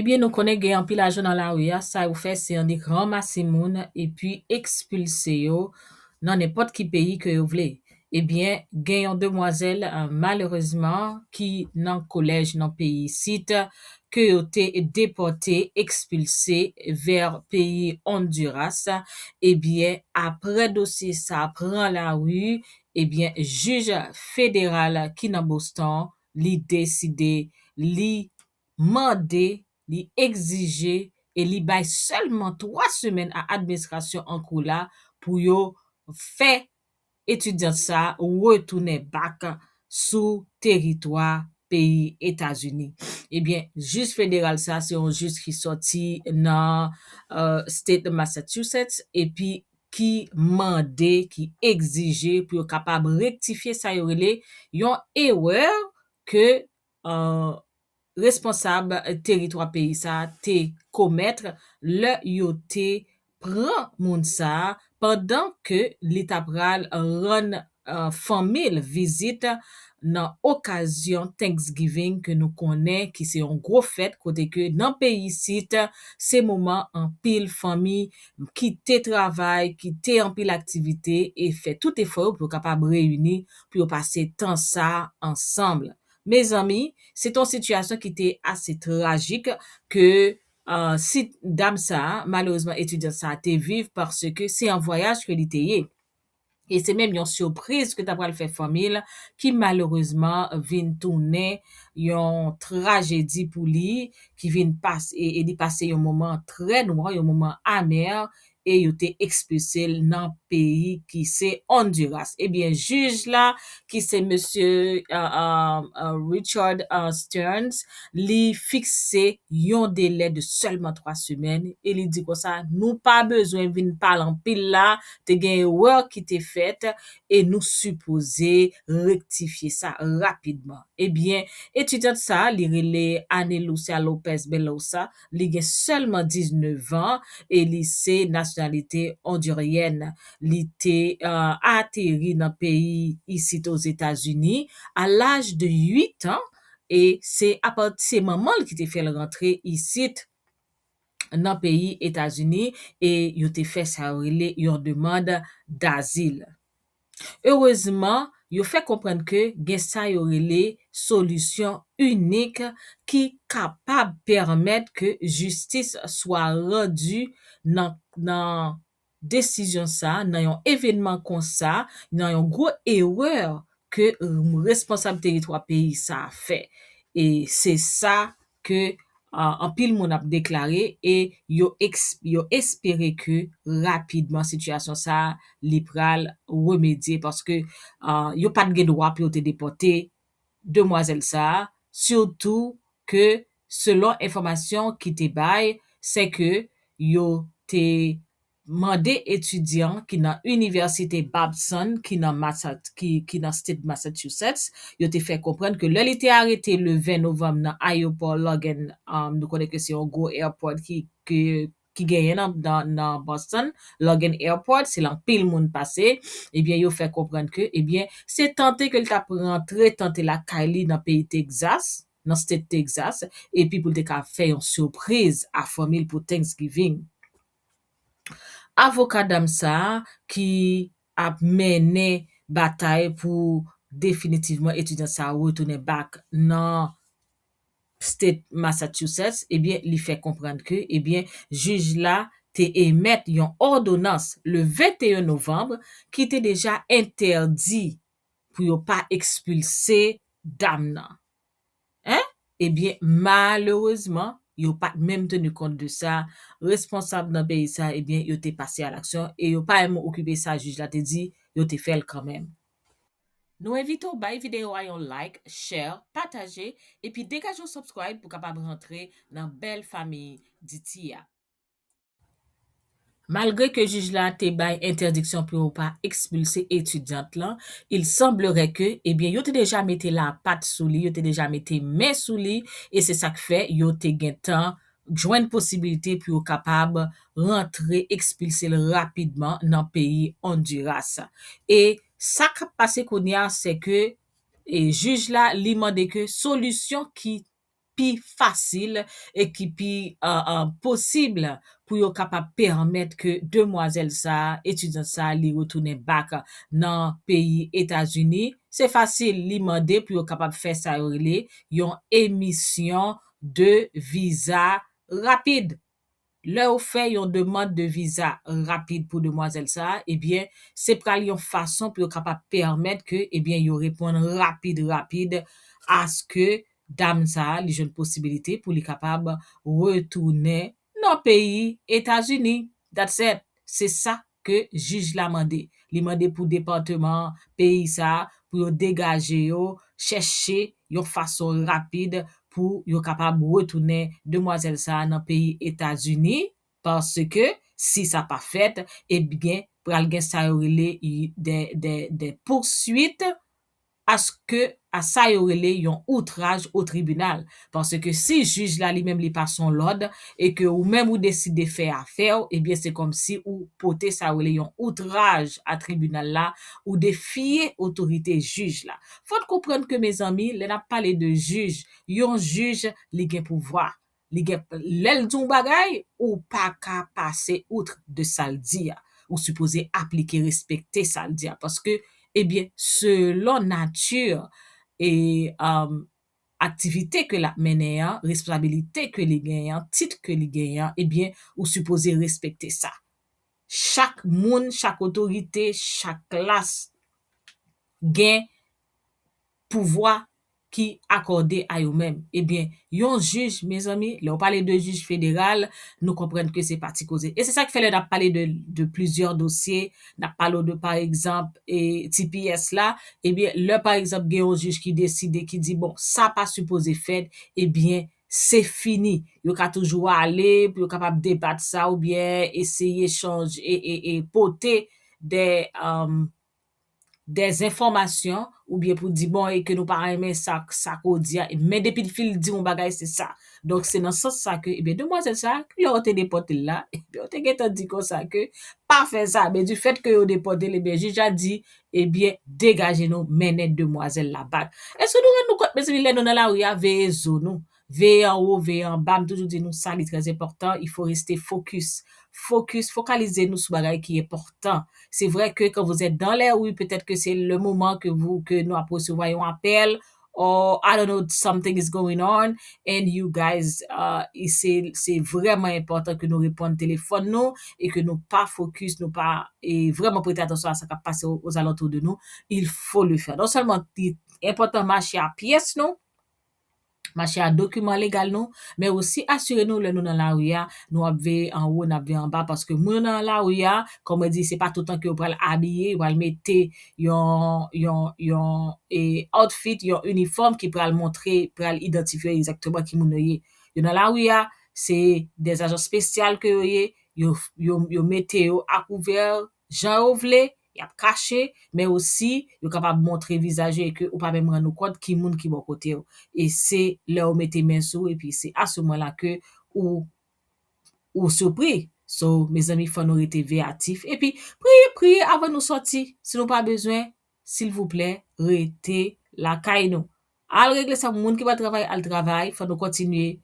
Ebyen nou konnen gen anpil ajan nan lari a, sa yo fè se annik ranmase moun epi ekspilse yo nan nenpòt ki peyi ke yo vle. Ebyen gen yon demwazèl malerezman ki nan kolèj nan peyi isit ke yo te depòte, ekspilse vè peyi Honduras, ebyen aprè dosye sa pran lari, ebyen jij federal ki nan Boston li deside, li mande, li egzije e li bay sèlman 3 semèn a administrasyon an kou la pou yo fè etudiant sa retounen back sou teritwa peyi Etazini. Ebyen jij federal sa se yon jij ki sòti nan state Massachusetts epi ki mande, ki egzije pou yo kapab rektifye sa yo rele yon erè ke responsab teritwa peyi sa a te komètre lè yo te pran moun sa a pandan ke li ta pral rann fanmi l vizit nan okazyon Thanksgiving ke nou konnen ki se yon gwo fèt kote ke nan peyi isit se moman anpil fanmi kite travay, kite anpil aktivite e fè tout efò yo pou yo kapab reyini pou yo pase tan sa ansanm. Mezanmi, se te yon sitiyasyon ki te ase trajik ke si dam sa, malerezman etidyant sa te viv paske se an vwayaj ke li te ye. e se menm yon sipriz ke ta pral fè fanmi l ki malerezman vin tounen yon trajedi pou li ki vin e li pase yon moman trè nwa, yon moman amè e yo te ekspilse l nan peyi ki se Honduras. Ebyen jij la ki se mesye Richard Stearns li fikse yon delè de sèlman 3 semèn e li di konsa nou pa bezwen vin pale anpil la te gen erè ki te fèt e nou sipoze rektifye sa rapidman. Ebyen, etidyant sa a, li rele Anne Lucia Lopez Belosa, li gen sèlman 19 an e li se nasyonalite ondiryèn. Li te ateri nan peyi isit Ozetazini a laj de 8 an e se apati se manman l ki te fè l rantre isit. nan peyi Etazini e yo te fè sa yo rele yon demand dazil. Erezman, yo fè konprann ke gen sa yo rele solisyon inik ki kapab pèmèt ke jistis swa randi nan nan desizyon sa nan yon evenman konsa nan yon gwo erè ke responsab teritwa peyi sa fè e se sa ke anpil moun ap deklare e yo yo espere ke rapidman sitiyasyon sa li pral remedye paske yo pat gen dwa pou yo te depòte demwazèl sa, sitou ke selon enfòmasyon ki te bay, sè ke yo te mande etidyan ki nan Inivèsite Babson ki nan ki nan State Massachusetts, yo te fè konprann ke lè li te arete le 20 novanm nan ayopò Logan, nou konnen ke se yon gwo airport ki ke ki genyen nan Boston Logan Airport, se la anpil moun pase, ebyen yo fè konprann ke ebyen se tante ke li tap rantre tante lakay li nan peyi Texas, nan state Texas, epi pou li te ka fè yon surpriz a fanmi li pou Thanksgiving. Avoka dam sa a ki ap mennen batay pou definitivman etudyant sa a retounen back nan. State Massachusetts, ebyen li fè konprann ke ebyen jij la te emèt yon òdonans le 21 novanb ki te deja entèdi pou yo pa ekspilse dam nan. Hein? Ebyen malerezman yo pat menm tenu kont de sa, responsab nan peyi sa ebyen yo te pase a laksyon e yo pa menm okipe sa jij la te di, yo te fè l kanmenm. Nou envite w bay videyo a yon like, share, pataje epi degaje yon subscribe pou kapab rantre nan bèl famiy DT a. Malgre ke jij la te bay entèdiksyon pou yo pa ekspilse etudyant lan, il semblerait que, ebyen yo te deja mete lapat sou li, yo te deja mete men sou li e se sak fè yo te gentan jwenn posibilite pou yo kapab rantre, ekspilse l rapidman nan peyi Honduras. E sa k ap pase kounye a se ke e jij la li mande ke solisyon ki pi fasil e ki pi posib pou yo kapab pèmèt ke demwazèl sa a, etidyant sa a li retounen back nan peyi Etazini, se fasil li mande pou yo kapab fè sa yo rele yon emisyon de viza rapid. Lè ou fè yon demand de viza rapid pou demwazèl sa a, ebyen se pral yon fason pou yo kapab pèmèt ke ebyen yo reponn rapid rapid aske dam sa a li jwenn posibilite pou li kapab retounen nan peyi Etazini. That's it. Se sa ke jij la mande. Li mande pou departeman an, peyi sa, pou yo degaje yo, chèche yon fason rapid pou yo kapab retounen demwazèl sa a nan peyi Etazini, paske si sa pa fèt, ebyen pral gen sa yo rele des des des poursuites aske a sa yo rele yon outraj o tribinal, paske si jij la li menm li pase yon lòd e ke ou menm ou deside fè afè w, ebyen se kòmsi ou pote sa yo rele yon outraj a tribinal la, ou defye otorite jij la. Fò n konprann ke mezanmi, lè n ap pale de jij, yon jij li gen pouvwa, li gen lèl di yon bagay ou paka pase outre de sal di a ou sipoze aplike respekte sal di a paske ebyen selon nati e aktivite ke lap mennen an responsabilite ke li genyen an tit ke li genyen an ebyen ou sipoze respekte sa chak moun chak otorite chak klas gen pouvwa ki akòde a yo menm. Ebyen, yon jij, mezanmi, lè ou pale de jij federal, nou konprann ke se pa ti koze. E se sa ki fè lè n ap pale de, de plizyè dosye, n ap pale w de pa egzanp, e tps la, ebyen, lè pa egzanp gen yon jij ki deside, ki di, bon, sa pa sipoze fèt, ebyen, se fini. Yo ka toujou ale pou yo kapab debat sa oubyen eseye chanje e, e, e pote dè, dezenfòmasyon oubyen pou di bon e ke nou pa renmen sa sa ke w di a men depi l fin di yon bagay se sa donk se nan sans sa ke ebyen demwazèl sa lè yo te depòte l la yo te gentan di konsa ke pa fè sa men di fèt ke yo depòte l ebyen jij la di ebyen degaje nou mennen demwazèl la bak èske nou rann nou kont mezanmi lè nou nan lari a veye zo nou Veye anwo, veye anba, m toujou di nou sa li trè enpòtan, il faut rester focus. Focus, fokalize nou sou bagay ki enpòtan. Se vrè ke kan vous êtes dans les rues, petèt ke se le moman ke vou, ke nou ap resevwa yon apèl, or I don't know, something is going on and you guys ahh se, se vrèman enpòtan ke nou reponn telefòn nou e ke nou pa focus, nou pa e vrèman prete atansyon a sa kap pase aux alentours de nous, il faut le faire. Non sèlman li enpòtan mache a pyès nou, mache a dokiman legal nou, men osi asire nou lè nou nan lari a, nou ap veye anwo, n ap veye anba paske moun yo nan lari a, kòm mwen di, se pa toutan ke yo pral abiye, yo pral mete yon, yon, yon e outfit, yon inifòm ki pral montre, pral idantifye egzakteman ki moun yo ye. Yo nan lari a, se dè ajan spesyal ke yo ye, yo, yo mete yo akouvè jan yo vle, Y ap kache, men osi, yo kapab montre vizaj yo e ke ou pa menm rann ou kont ki moun ki bò kote w. E se lè ou mete men sou e pi se a se moman la ke ou ou sipri. So, mezanmi fò nou rete veyatif e pi priye priye avan nou sòti. Si nou pa bezwen, silvouplè rete lakay nou. Al regle sa moun ki pa travay al travay fò nou kontinye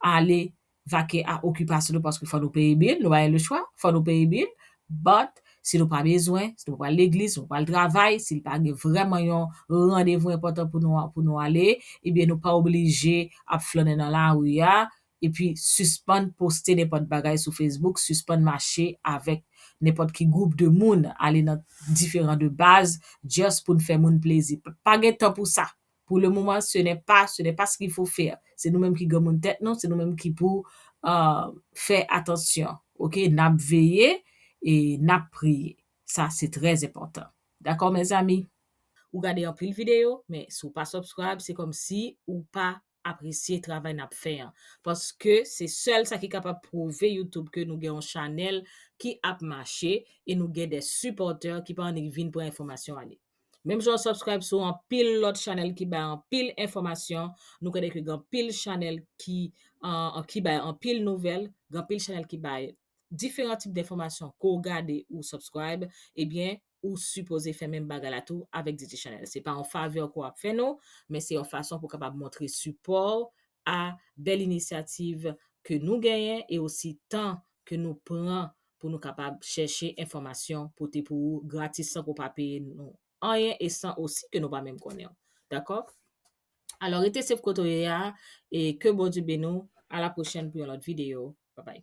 ale vake a okipasyon nou paske fò nou peye bil nou pa gen lechwa fò nou peye bil but si nou pa bezwen si nou pa pral legliz si nou pa pral travay si pa gen vrèman yon randevou enpòtan pou nou ale ebyen nou pa oblije ap flannen nan lari a Epi sispann poste nenpòt bagay sou Facebook, sispann mache avèk nenpòt ki gwoup de moun, ale nan diferan de baz just pou n fè moun plezi. Pa gen tan pou sa! Pou le moman ce n'est pas, ce n'est pas ce qu'il faut faire. Se nou menm ki granmoun tèt nou, se nou menm ki pou fè atansyon. Ok, n ap veye e n ap priye. Sa se trè enpòtan. Dakò mèzami? Ou gade anpil videyo, men si w pa subscribe se kòmsi ou pa apresye travay nap fè an paske se sèl sa ki kapab pwouve youtube ke nou gen yon chanèl ki ap mache e nou gen de sipòtè ki pa annik vin pran enfòmasyon ale menm jan ou subscribe sou anpil lòt chanèl ki bay anpil enfòmasyon nou konnen ke gen anpil chanèl ki ki bay anpil nouvèl gen anpil chanèl ki bay diferan tip denfòmasyon ke w gade ou subscribe ebyen ou sipoze fè menm bagay la tou avèk Didi Chanel. Se pa yon favè ke w ap fè nou, men se yon fason pou w kapab montre sipò w a bèl inisyativ ke nou genyen e osi tan ke nou pran pou nou kapab chèche enfòmasyon pote pou ou gratis san ke w pa peye nou anyen e san osi ke nou pa menm konnen w. Dakò? Alò rete sef kote w ye a e ke Bondye beni w. A la pwochèn pou yon lòt videyo. Babay.